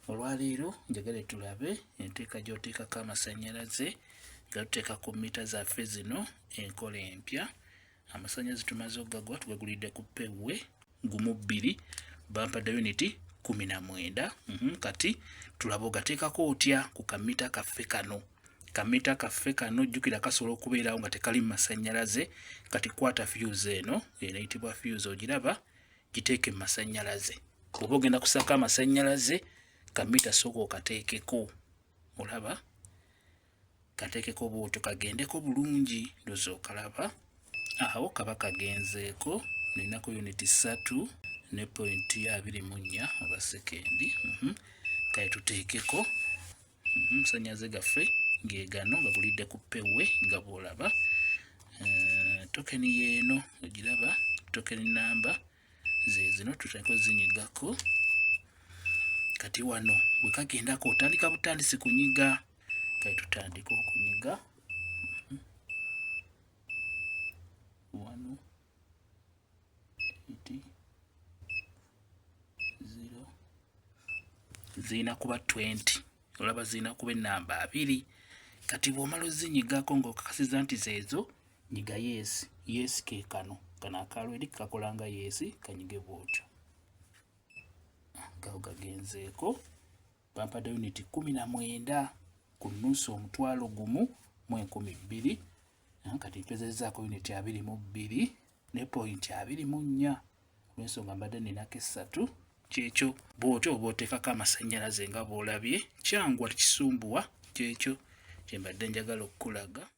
Olwaleero njagala tulabe enteeka gy'oteekako amasannyalaze nga tuteeka ku mita zaffe zino enkola empya. Amasannyalaze tumaze okugagwa tugagulidde ku pewwe gumu bbiri bampa da uniti kumi na mwenda. Mhm, kati tulabe ogateekako otya ku kamita kaffe kano kamita kaffe kano jjukira kasobola okubeerawo nga tekali mu masannyalaze. Kati kwata fuse eno eno eyitibwa fuse ogiraba giteeke mu masannyalaze oba ogenda kusaako amasannyalaze kamita sooka okateekeko olaba kateekeko bwotyo kagendeko bulungi ndozi okalaba awo kaba kagenzeeko ninaku yuniti ssatu ne pointi abiri mu nnya oba sekendi mhm. kale tuteekeko Amasannyalaze gaffe ng'egano gagulidde ku pewe nga bw'olaba eh, tokeni yeeno ogiraba tokeni namba zezino tutandika ozinyigako kati wano bwe kagendako otandika butandisi kunyiga kati tutandika okunyiga wano zirina kuba 20 olaba zirina kuba enamba abiri kati bwomala ozinyigako ngaokakasiza nti zeezo nyiga yeesi yeesi kekano kano akaalo eri kakola nga yeesi kanyige bwotyo gawo gagenzeeko bampadde yuniti kumi na mwenda ku nusu omutwalo gumu mu enkumi bbiri kati mpezezaako yuniti abiri mu bbiri ne pointi abiri mu nnya olwensonga mbadde ninako essatu kyekyo bwotyo oba oteekako amasannyalaze nga bwolabye kyangu kisumbuwa kyekyo kyembadde njagala okukulaga